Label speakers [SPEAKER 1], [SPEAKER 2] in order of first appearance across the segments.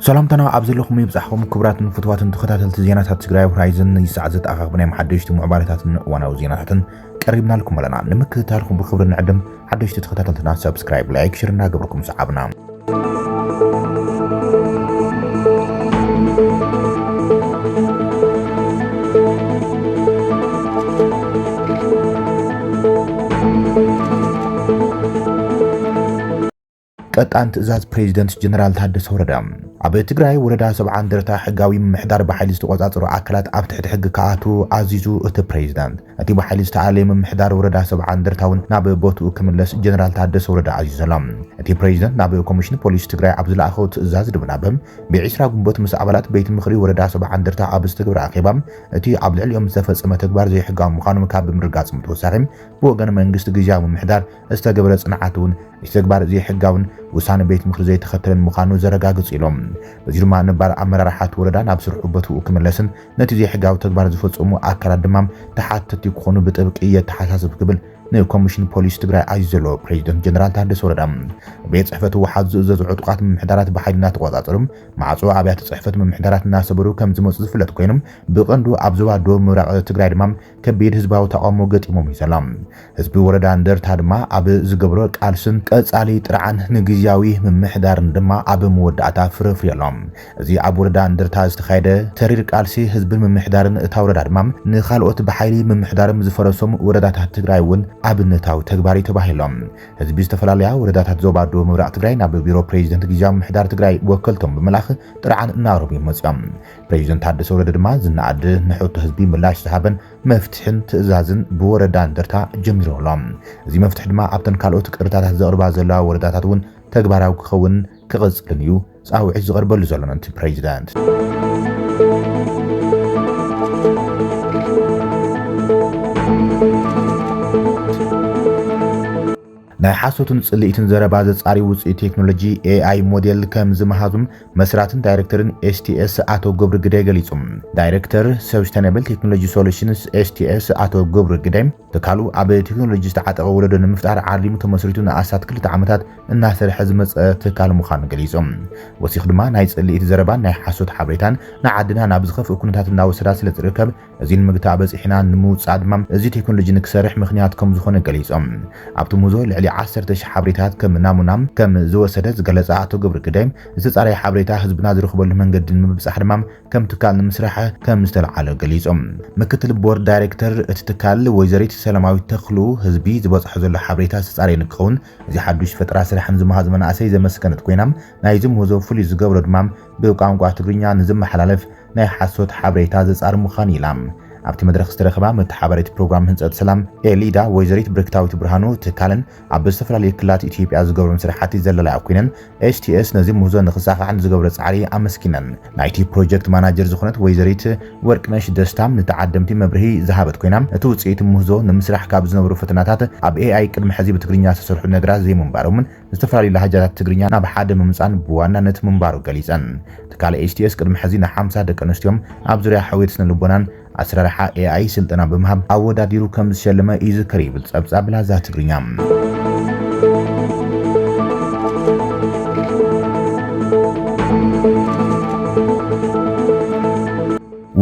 [SPEAKER 1] ሰላምታና ኣብ ዘለኹም ይብጻሕኹም ክቡራትን ፍትዋትን ተኸታተልቲ ዜናታት ትግራይ ሆራይዘን ይሳዕ ዘተኣኻኽብ ናይ መሓደሽቲ ምዕባለታትን እዋናዊ ዜናታትን ቀሪብናልኩም ኣለና። ንምክትታልኩም ብክብሪ ንዕድም። ሓደሽቲ ተኸታተልትና ሰብስክራይብ፣ ላይክ፣ ሽር እናገበርኩም ሰዓብና። ቀጣን ትእዛዝ ፕሬዚደንት ጀነራል ታደሰ ወረደ ኣብ ትግራይ ወረዳ ሰብዓ እንደርታ ሕጋዊ ምምሕዳር ብሓይሊ ዝተቆፃፀሩ ኣካላት ኣብ ትሕቲ ሕጊ ክኣትዉ ኣዚዙ እቲ ፕሬዚዳንት። እቲ ብሓይሊ ዝተኣለየ ምምሕዳር ወረዳ ሰብዓ እንደርታ እውን ናብ ቦትኡ ክምለስ ጀነራል ታደሰ ወረደ ኣዚዙ ኣሎ። እቲ ፕሬዚደንት ናብ ኮሚሽን ፖሊስ ትግራይ ኣብ ዝለኣኸው ትእዛዝ ድብናበ ብዒስራ ግንቦት ምስ ኣባላት ቤት ምኽሪ ወረዳ ሰብዓ እንደርታ ኣብ ዝተገብረ ኣኼባ እቲ ኣብ ልዕሊኦም ዝተፈፀመ ተግባር ዘይሕጋዊ ምዃኑ ካብ ምርጋፆም ተወሳኺ ብወገን መንግስቲ ግዝያዊ ምምሕዳር ዝተገብረ ጽንዓት እውን እቲ ተግባር ዘይሕጋውን ውሳነ ቤት ምክሪ ዘይተኸተለን ምዃኑ ዘረጋግጽ ኢሎም። በዚ ድማ ነባር ኣመራርሓ እቲ ወረዳ ናብ ስርሑ ቦትኡ ክምለስን ነቲ ዘይሕጋዊ ተግባር ዝፈጸሙ ኣካላት ድማ ተሓተቲ ክኾኑ ብጥብቂ የተሓሳስብ ክብል ንኮሚሽን ፖሊስ ትግራይ ኣዩ ዘሎ ፕሬዚደንት ጀነራል ታደሰ ወረዳ ቤት ጽሕፈት ህወሓት ዝእዘዙ ዕጡቃት ምምሕዳራት ብሓይሊ እናተቆጻጸሩ ማዕጾ ኣብያተ ጽሕፈት ምምሕዳራት እናሰበሩ ከም ዝመፁ ዝፍለጥ ኮይኑ ብቐንዱ ኣብ ዞባ ደቡብ ምብራቕ ትግራይ ድማ ከቢድ ህዝባዊ ተቓውሞ ገጢሞም እዩ ዘሎ። ህዝቢ ወረዳ እንደርታ ድማ ኣብ ዝገብሮ ቃልስን ቀጻሊ ጥርዓን ንግዝያዊ ምምሕዳርን ድማ ኣብ መወዳእታ ፍረ ኣፍርዩ ኣሎ። እዚ ኣብ ወረዳ እንደርታ ዝተኻየደ ተሪር ቃልሲ ህዝብን ምምሕዳርን እታ ወረዳ ድማ ንኻልኦት ብሓይሊ ምምሕዳርም ዝፈረሶም ወረዳታት ትግራይ እውን ኣብነታዊ ተግባር እዩ ተባሂሉ ኣሎ። ህዝቢ ዝተፈላለያ ወረዳታት ዞባ ደቡብ ምብራቕ ትግራይ ናብ ቢሮ ፕሬዚደንት ግዝያዊ ምምሕዳር ትግራይ ወከልቶም ብምልኣኽ ጥርዓን እናቕረቡ እዮም መፂኦም። ፕረዚደንት ታደሰ ወረደ ድማ ዝነኣድ ንሕቶ ህዝቢ ምላሽ ዝሃበን መፍትሕን ትእዛዝን ብወረዳ እንደርታ ጀሚሩ ኣሎ። እዚ መፍትሒ ድማ ኣብተን ካልኦት ቅሬታታት ዘቕርባ ዘለዋ ወረዳታት እውን ተግባራዊ ክኸውንን ክቕፅልን እዩ ፃውዒት ዝቐርበሉ ዘሎ ምእንቲ ፕረዚደንት ናይ ሓሶትን ጽልኢትን ዘረባ ዘጻሪ ውጽኢት ቴክኖሎጂ ኤኣይ ሞዴል ከም ዝመሃዙም መስራትን ዳይሬክተርን ኤስቲኤስ ኣቶ ገብሩ ግዳይ ገሊጹ። ዳይሬክተር ሰብስተነብል ቴክኖሎጂ ሶሉሽንስ ኤስቲኤስ ኣቶ ገብሩ ግዳይ ትካሉ ኣብ ቴክኖሎጂ ዝተዓጠቐ ወለዶ ንምፍጣር ዓሊሙ ተመስሪቱ ንኣስታት ክልተ ዓመታት እናሰርሐ ዝመጸ ትካል ምዃኑ ገሊጹ። ወሲኹ ድማ ናይ ጽልኢት ዘረባን ናይ ሓሶት ሓበሬታን ንዓድና ናብ ዝኸፍእ ኩነታት እናወሰዳ ስለዝርከብ እዚ ንምግታእ በጺሕና ንምውጻእ ድማ እዚ ቴክኖሎጂ ንክሰርሕ ምኽንያት ከም ዝኾነ ገሊጾም። ኣብቲ ሙዞ ልዕሊ ዓሰርተ ሽሕ ሓበሬታት ከም ናሙና ከም ዝወሰደ ዝገለጻ ኣቶ ገብሩ ግደይ፣ ዝተጻረየ ሓበሬታ ህዝብና ዝረኽበሉ መንገዲ ንምብጻሕ ድማ ከም ትካል ንምስራሕ ከም ዝተልዓለ ገሊጾም። ምክትል ቦርድ ዳይሬክተር እቲ ትካል ወይዘሪት ሰላማዊት ተኽሉ፣ ህዝቢ ዝበጽሖ ዘሎ ሓበሬታ ዝተጻረየ ንክኸውን እዚ ሓዱሽ ፈጠራ ስራሕን ዝመሃዙ መናእሰይ ዘመስገነት ኮይና፣ ናይዚ ምህዞ ፍሉይ ዝገብሮ ድማ ብቋንቋ ትግርኛ ንዝመሓላለፍ ናይ ሓሶት ሓበሬታ ዘጻሪ ምዃኑ ኢላ ኣብቲ መድረኽ ዝተረኽባ መተሓባሪት ፕሮግራም ህንጸት ሰላም ኤሊዳ ወይዘሪት ብርክታዊት ብርሃኑ ትካለን ኣብ ዝተፈላለዩ ክልላት ኢትዮጵያ ዝገብሮም ስራሕቲ ዘለላያ ኮይነን ኤችቲኤስ ነዚ ምህዞ ንክሳኻዕ ንዝገብሮ ጻዕሪ ኣመስጊነን። ናይቲ ፕሮጀክት ማናጀር ዝኾነት ወይዘሪት ወርቅነሽ ደስታ ንተዓደምቲ መብርሂ ዝሃበት ኮይና እቲ ውጽኢት ምህዞ ንምስራሕ ካብ ዝነበሩ ፈተናታት ኣብ ኤኣይ ቅድሚ ሕዚ ብትግርኛ ዝተሰርሑ ነገራት ዘይምንባሮምን ዝተፈላለዩ ላህጃታት ትግርኛ ናብ ሓደ ምምጻን ብዋናነት ምንባሩ ገሊጸን። ትካል HTS ቅድሚ ሕዚ ንሓምሳ ደቂ ኣንስትዮ ኣብ ዙርያ ሕውየት ስነልቦናን ኣሰራርሓ AI ስልጠና ብምሃብ ኣወዳዲሩ ከም ዝሸለመ ይዝከር ይብል ጸብጻብ ላዛ ትግርኛ።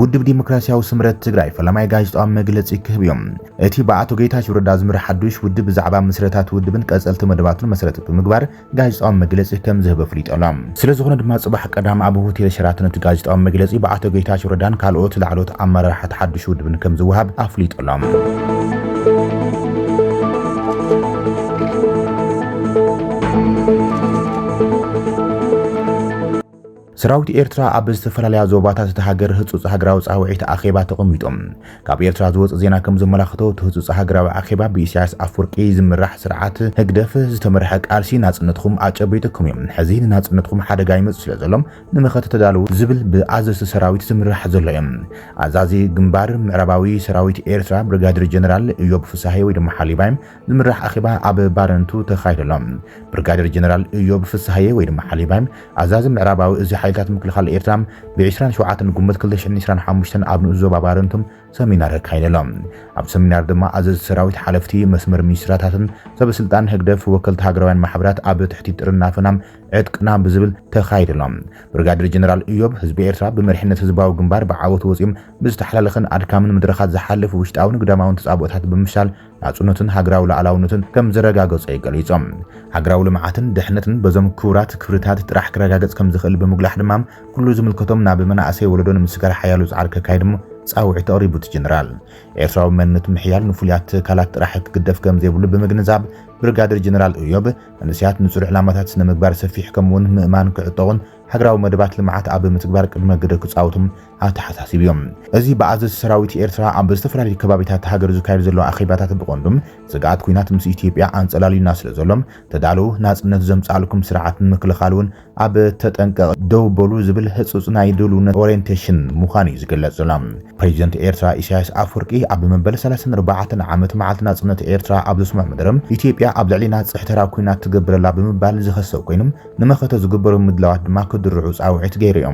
[SPEAKER 1] ውድብ ዲሞክራሲያዊ ስምረት ትግራይ ፈላማይ ጋዜጣዊ መግለጺ ክህብ እዩ። እቲ ብኣቶ ጌታቸው ረዳ ዝምራሕ ሓዱሽ ውድብ ብዛዕባ ምስረታ እቲ ውድብን ቀፀልቲ መደባቱን መሰረት ብምግባር ጋዜጣዊ መግለፂ ከምዝህብ ኣፍሊጡ ኣሎ። ስለዝኾነ ድማ ፅባሕ ቀዳም ኣብ ሆቴል ሸራተን እቲ ጋዜጣዊ መግለፂ ብኣቶ ጌታቸው ረዳን ካልኦት ላዕለዎት ኣመራርሓ እቲ ሓዱሽ ውድብን ከምዝወሃብ ኣፍሊጡ ኣሎ። ሰራዊት ኤርትራ ኣብ ዝተፈላለያ ዞባታት እታ ሃገር ህጹጽ ሃገራዊ ጻውዒት ኣኼባ ተቐሚጦም። ካብ ኤርትራ ዝወጽእ ዜና ከም ዘመላኽቶ እቲ ህጹጽ ሃገራዊ ኣኼባ ብኢሳያስ ኣፍወርቂ ዝምራሕ ስርዓት ህግደፍ ዝተመርሐ ቃልሲ ናጽነትኹም ኣጨቢጡኩም እዩ፣ ሕዚ ንናጽነትኹም ሓደጋ ይመጽእ ስለዘሎ ንመኸተ ተዳለዉ ዝብል ብኣዘዝቲ ሰራዊት ዝምራሕ ዘሎ እዩ። ኣዛዚ ግንባር ምዕራባዊ ሰራዊት ኤርትራ ብርጋዴር ጀነራል እዮብ ፍሳሃየ ወይ ድማ ሓሊባይ ዝምራሕ ኣኼባ ኣብ ባረንቱ ተኻይዱ ኣሎ። ብርጋዴር ጀነራል እዮብ ፍስሃየ ወይ ድማ ሓሊባይ ኣዛዚ ምዕራባዊ እዚ ሓይልታት ምክልኻል ኤርትራ ብዕስራን ሸውዓተን ግንቦት ክልተ ሽሕን ዕስራን ሓሙሽተን ኣብ ንኡስ ዞባ ባረንቱ ሰሚናር ኣካይዱ ኣሎ። ኣብ ሰሚናር ድማ ኣዘዝቲ ሰራዊት፣ ሓለፍቲ መስመር ሚኒስትራታትን ሰበስልጣን ህግደፍ፣ ወከልቲ ሃገራውያን ማሕበራት ኣብ ትሕቲ ጥርናፈና ዕጥቅና ብዝብል ተኻይዱ ኣሎ። ብርጋዴር ጀነራል እዮብ ህዝቢ ኤርትራ ብመሪሕነት ህዝባዊ ግንባር ብዓወት ወጺኡ ብዝተሓላለኸን ኣድካምን መድረኻት ዝሓለፉ ውሽጣውን ግዳማውን ተጻብኦታት ብምፍሻል ናጽነቱን ሃገራዊ ላኣላውነቱን ከም ዘረጋገጸ'ዩ ገሊጹ። ሃገራዊ ልምዓትን ድሕነትን በዞም ክቡራት ክብርታት ጥራሕ ክረጋገጽ ከም ዝኽእል ብምጉላሕ ድማ፣ ኩሉ ዝምልከቶም ናብ መናእሰይ ወለዶ ንምስጋር ሓያሎ ጻዕሪ ከካይዱ ጻውዒት ኣቕሪቡ። እቲ ጀነራል፣ ኤርትራዊ መንነት ምሕያል ንፍሉያት ትካላት ጥራሕ ክግደፍ ከም ዘይብሉ ብምግንዛብ፣ ብርጋደር ጀነራል እዮብ፣ መንእሰያት ንጹር ዕላማታት ስነ-ምግባር ሰፊሕ ከምኡ'ውን ምእማን ክዕጠቑን፣ ሃገራዊ መደባት ልምዓት ኣብ ምትግባር ቅድመ ግደ ክጻወቱ ኣተሓሳሲቡ እዩ። እዚ ብኣዘዝቲ ሰራዊት ኤርትራ ኣብ ዝተፈላለዩ ከባቢታት ሃገር ዝካየድ ዘሎ ኣኼባታት ብቐንዱ ስግኣት ኲናት ምስ ኢትዮጵያ ኣንጸላልዩና ስለዘሎ ተዳለዉ፣ ናጽነት ዘምጽኣልኩም ስርዓት ንምክልኻል እውን ኣብ ተጠንቀቕ ደው በሉ ዝብል ህጹጽ ናይ ድልውነት ኦርየንቴሽን ምዃኑ እዩ ዝግለጽ ዘሎ። ፕረዚደንት ኤርትራ ኢሳያስ ኣፍወርቂ ኣብ መበል ሰላሳን ኣርባዕተን ዓመት መዓልቲ ናጽነት ኤርትራ ኣብ ዘስምዖ መደረ፣ ኢትዮጵያ ኣብ ልዕሌና ጽሕተራ ኲናት ትገብር ኣላ ብምባል ዝኸሰ ኮይኑ፣ ንመኸተ ዝግበሩ ምድላዋት ድማ ክድርዑ ጻውዒት ገይሩ እዩ።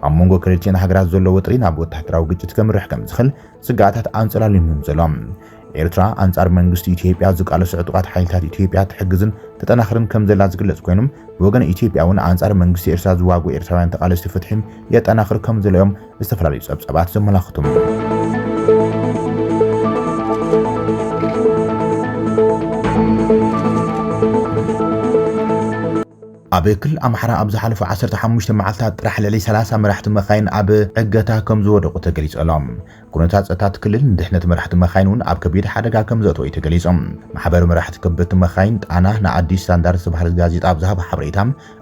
[SPEAKER 1] ኣብ መንጎ ክልቲኤን ሃገራት ዘሎ ወጥሪ ናብ ወተሃደራዊ ግጭት ከምርሕ ከምዝኽል ስግኣታት ኣንጸላልዩም እዮም ዘሎ። ኤርትራ ኣንጻር መንግስቲ ኢትዮጵያ ዝቃለሱ ዕጡቓት ሓይልታት ኢትዮጵያ ትሕግዝን ተጠናኽርን ከምዘላ ዝግለጽ ኮይኑ፣ ብወገን ኢትዮጵያ እውን ኣንጻር መንግስቲ ኤርትራ ዝዋግኡ ኤርትራውያን ተቓለስቲ ፍትሒ የጠናኽር ከምዘሎ እዮም ዝተፈላለዩ ጸብጻባት ዘመላኽቱ ኣብ ክልል ኣምሓራ ኣብ ዝሓለፉ 15 መዓልታት ጥራሕ ልዕሊ 30 መራሕቲ መኻይን ኣብ ዕገታ ከምዝወደቑ ተገሊጹ ኣሎ። ኩነታት ጸጥታ እቲ ክልል ንድሕነት መራሕቲ መኻይን እውን ኣብ ከቢድ ሓደጋ ከምዘእተዎ እዩ ተገሊጹ። ማሕበር መራሕቲ ከበድቲ መኻይን ጣና ንኣዲስ ስታንዳርድ ዝተባህለት ጋዜጣ ኣብ ዝሃቦ ሓበሬታ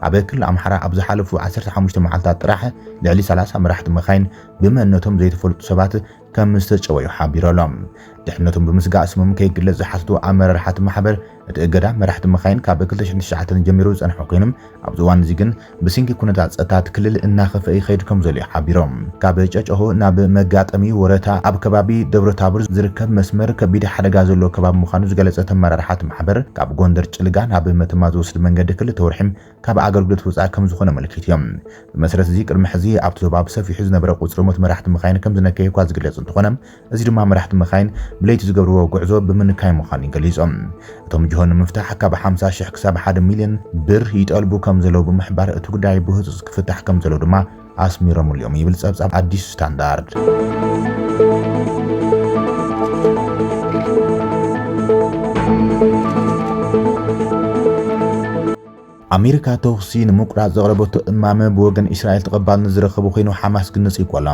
[SPEAKER 1] ኣብ ክልል ኣምሓራ ኣብ ዝሓለፉ ዓሰርተ ሓሙሽተ መዓልታት ጥራሕ ልዕሊ ሰላሳ መራሕቲ መካይን ብመንነቶም ዘይተፈልጡ ሰባት ከምዝተጨወዩ ሓቢሩ ኣሎ። ድሕነቶም ብምስጋእ ስሞም ከይግለጽ ዝሓተቱ ኣመራርሓ እቲ ማሕበር፣ እቲ እገዳ መራሕቲ መካይን ካብ ክልተ ሽሕን ትሽዓተን ጀሚሩ ዝጸንሐ ኮይኑ፣ ኣብዚ እዋን'ዚ ግን ብስንኪ ኩነታት ጸጥታ እቲ ክልል እናኸፍኣ ይኸይድ ከምዘሎ'ዩ ሓቢሮም። ካብ ጨጨሆ ናብ መጋጠሚ ወረታ ኣብ ከባቢ ደብረታቦር ዝርከብ መስመር ከቢድ ሓደጋ ዘለዎ ከባቢ ምዃኑ ዝገለጸ እቲ ኣመራርሓ እቲ ማሕበር፣ ካብ ጎንደር ጭልጋ ናብ መተማ ዝወስድ መንገዲ ክልተ ወርሒ ካብ ኣገልግሎት ወጻኢ ከምዝኾነ ኣመልኪቱ'ዮም። ብመሰረት እዚ ቅድሚ ሕዚ ኣብቲ ዞባ ብሰፊሑ ዝነበረ ቁጽሪ ሞት መራሕቲ መካይን ከምዝነከየ'ኳ ዝግለጽ እንተኾነ፣ እዚ ድማ መራሕቲ መካይን ብለይቲ ዝገብርዎ ጉዕዞ ብምንካይ ምዃኑ'ዩ ገሊጹ። እቶም ጅሆ ንምፍታሕ ካብ ሓምሳ ሽሕ ክሳብ ሓደ ሚልዮን ብር ይጠልቡ ከምዘለዉ ብምሕባር፣ እቲ ጉዳይ ብህጹጽ ክፍታሕ ከምዘለዎ ድማ ኣስሚሮምሉ'ዮም ይብል ጸብጻብ ኣዲስ ስታንዳርድ። ኣሜሪካ ተኹሲ ንምቁራጽ ዘቕረበቶ እማመ ብወገን እስራኤል ተቐባልነት ዝረኸበ ኮይኑ ሓማስ ግን ነጺጉ ኣሎ።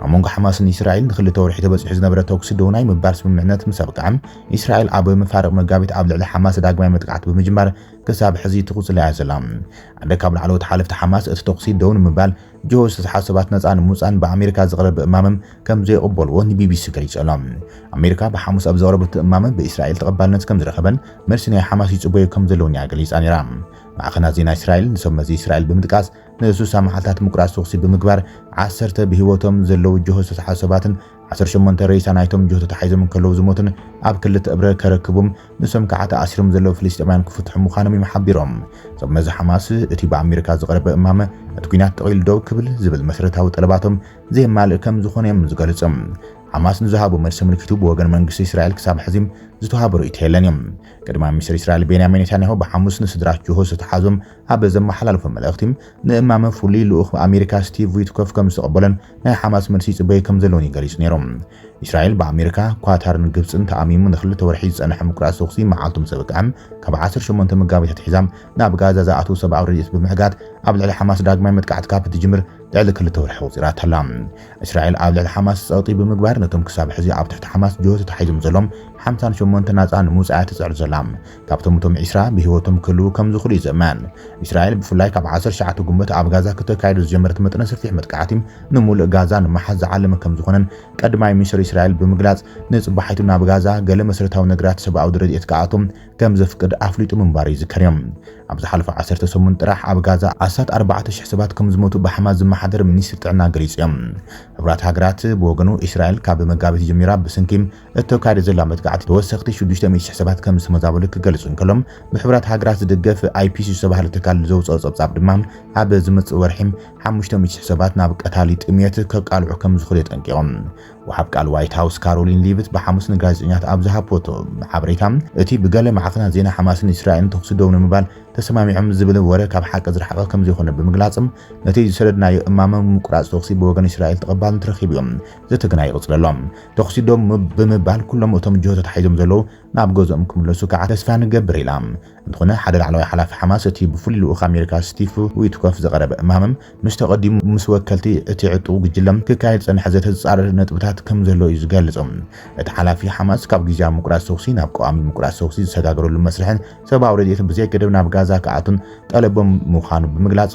[SPEAKER 1] ኣብ መንጎ ሓማስን እስራኤል ንኽልተ ወርሒ ተበጺሑ ዝነበረ ተኹሲ ደው ናይ ምባል ስምምዕነት ምስ ኣብቅዐ፣ እስራኤል ኣብ መፋርቕ መጋቢት ኣብ ልዕሊ ሓማስ ዳግማይ መጥቃዕቲ ብምጅማር ክሳብ ሕዚ ትቕጽሎ እያ ዘላ። ሓደ ካብ ላዕለዎት ሓለፍቲ ሓማስ፣ እቲ ተዅሲ ደው ንምባል ጅሆ ዝተሰሓ ሰባት ነጻ ንምውጻእን ብኣሜሪካ ዝቐረበ እማመ ከም ዘይቕበልዎ ንቢቢሲ ገሊጹ ኣሎ። ኣሜሪካ ብሓሙስ ኣብ ዘቕረበቶ እማመ ብእስራኤል ተቐባልነት ከም ዝረኸበን መልሲ ናይ ሓማስ ይጽበዮ ከም ዘለዎን እያ ገሊጻ ነይራ። ማዕኸናት ዜና እስራኤል ንሰብ መዚ እስራኤል ብምጥቃስ ንስሳ መዓልታት ምቁራጽ ተዅሲ ብምግባር ዓሰርተ ብህይወቶም ዘለዉ ጅሆ ዝተሰሓ ሰባትን ዓሰርተ ሸሞንተ ሬሳ ናይቶም ጆቶ ተሓይዞም እንከለዉ ዝሞቱን ኣብ ክልተ እብረ ከረክቡም ንሶም ከዓ ተኣሲሮም ዘለዉ ፍልስጤማውያን ክፍትሑ ምዃኖም እዮም ሓቢሮም። እዞም መዚ ሓማስ እቲ ብኣሜሪካ ዝቐረበ እማመ ነቲ ኲናት ጠቕሊሉ ደው ክብል ዝብል መሰረታዊ ጠለባቶም ዘየማልእ ከም ዝኾነ እዮም ዝገልጹ። ሓማስ ንዝሃቦ መልሲ ኣመልኪቱ ብወገን መንግስቲ እስራኤል ክሳብ ሕዚ ዝተውሃበ ርእይቶ የለን እዩ። ቀዳማይ ሚኒስተር እስራኤል ቤንያሚን ኔታንያሁ ብሓሙስ ንስድራ ጆሆ ዝተሓዙም ኣብ ዘመሓላለፎ መልእኽቲ ንእማመ ፍሉይ ልኡኽ ኣሜሪካ ስቲቭ ዊትኮፍ ከም ዝተቐበሎን ናይ ሓማስ መልሲ ይጽበዩ ከም ዘለውን እዩ ገሊጹ ነይሩ። እስራኤል ብኣሜሪካ፣ ኳታርን ግብጽን ተኣሚሙ ንክልተ ወርሒ ዝጸንሐ ምቁራጽ ተኹሲ መዓልቱ ምስ ኣበቅዐ ካብ 18 መጋቢት ኣትሒዛ ናብ ጋዛ ዝኣትው ሰብኣዊ ረድኤት ብምሕጋት ኣብ ልዕሊ ሓማስ ዳግማይ መጥቃዕቲ ካብ እትጅምር ልዕሊ ክልተ ወርሒ ኣቑጺራታ ኣላ። እስራኤል ኣብ ልዕሊ ሓማስ ጸቕጢ ብምግባር ነቶም ክሳብ ሕዚ ኣብ ትሕቲ ሓማስ ጅሆ ተታሒዞም ዘሎም ሓምሳን ሸሞንተን ናጻ ንምውጻእ እያ ትጽዕር ዘላ። ካብቶም እቶም ዒስራ ብህይወቶም ክህልዉ ከም ዝኽእሉ ይዝመን። እስራኤል ብፍላይ ካብ ዓሰርተ ትሽዓተ ግንቦት ኣብ ጋዛ ክተካይዶ ዝጀመረት መጠነ ሰፊሕ መጥቃዕቲ ንሙሉእ ጋዛ ንምሓዝ ዝዓለመ ከም ዝኾነን ቀድማይ ሚኒስተር እስራኤል ብምግላጽ ንጽባሒቱ ናብ ጋዛ ገለ መሰረታዊ ነገራት ሰብኣዊ ረድኤት ክኣቱ ከም ዘፍቅድ ኣፍሊጡ ምንባሩ ይዝከር እዩ። ኣብ ዝሓለፈ ዓሰርተ ሰሙን ጥራሕ ኣብ ጋዛ ኣስታት ኣርባዕተ ሽሕ ሰባት ከም ዝሞቱ ብሓማስ ዝመሓደር ሚኒስትሪ ጥዕና ገሊጹ እዩ። ሕቡራት ሃገራት ብወገኑ እስራኤል ካብ መጋቢት ጀሚራ ብስንኪ እተካይዶ ዘላ መጥቃዕቲ ተወሰኽቲ ሽዱሽተ ሚእቲ ሽሕ ሰባት ከም ዝተመዛበሉ ክገልጽ እንከሎ ብሕቡራት ሃገራት ዝድገፍ ኣይፒሲ ዝተባህለ ትካል ዘውጽኦ ጸብጻብ ድማ ኣብ ዝመጽእ ወርሒ ሓሙሽተ ሚእቲ ሽሕ ሰባት ናብ ቀታሊ ጥምየት ከቃልዑ ከም ዝኽእሉ የጠንቂቑ። ወሃብ ቃል ዋይት ሃውስ ካሮሊን ሊቭት ብሓሙስ ንጋዜጠኛታት ኣብ ዝሃበቶ ሓበሬታ፣ እቲ ብገለ ማዕከናት ዜና ሓማስን እስራኤልን ተኹሲ ደው ንምባል ተሰማሚዖም ዝብል ወረ ካብ ሓቂ ዝረሓቐ ከምዘይኮነ ብምግላጽ፣ ነቲ ዝሰደድናዮ እማመ ምቁራጽ ተኹሲ ብወገን እስራኤል ተቐባልነት ረኺቡ'ዩ፣ ዘተ ግና ይቕጽል ኣሎ። ተኹሲ ደው ብምባል ኩሎም እቶም ጅሆ ተታሒዞም ዘለዉ ናብ ገዝኦም ክምለሱ ከኣ ተስፋ ንገብር ኢላ። እንተኾነ ሓደ ላዕለዋይ ሓላፊ ሓማስ፣ እቲ ብፍሉይ ልኡኽ ኣሜሪካ ስቲቭ ዊትኮፍ ዝቐረበ እማመ፣ ምስ ተቐዲሙ ምስ ወከልቲ እቲ ዕጡቕ ጉጅለ ክካየድ ዝጸንሐ ዘተ ዝጻረር ነጥብታት ከምዘሎ እዩ ዝገልጽ። እቲ ሓላፊ፣ ሓማስ ካብ ግዝያዊ ምቁራጽ ተኹሲ ናብ ቀዋሚ ምቁራጽ ተኹሲ ዝሰጋገረሉ መስርሕን ሰብኣዊ ረድኤትን ብዘይገደብ ናብ ጋዛ ክኣቱን ጠለቦም ምዃኑ ብምግላጽ፣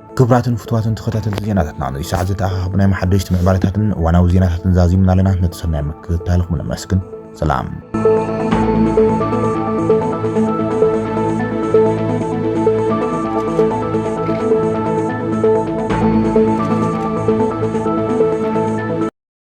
[SPEAKER 1] ክብራትን ፍትዋትን ተኸታተልቲ ዜናታትና ነዚ ሰዓት ዝተኣኻኸቡ ናይ መሓደሽቲ ምዕባለታትን እዋናዊ ዜናታትን ዛዚምና ኣለና ነቲ ሰናይ ምክትታልኹም ነመስግን ሰላም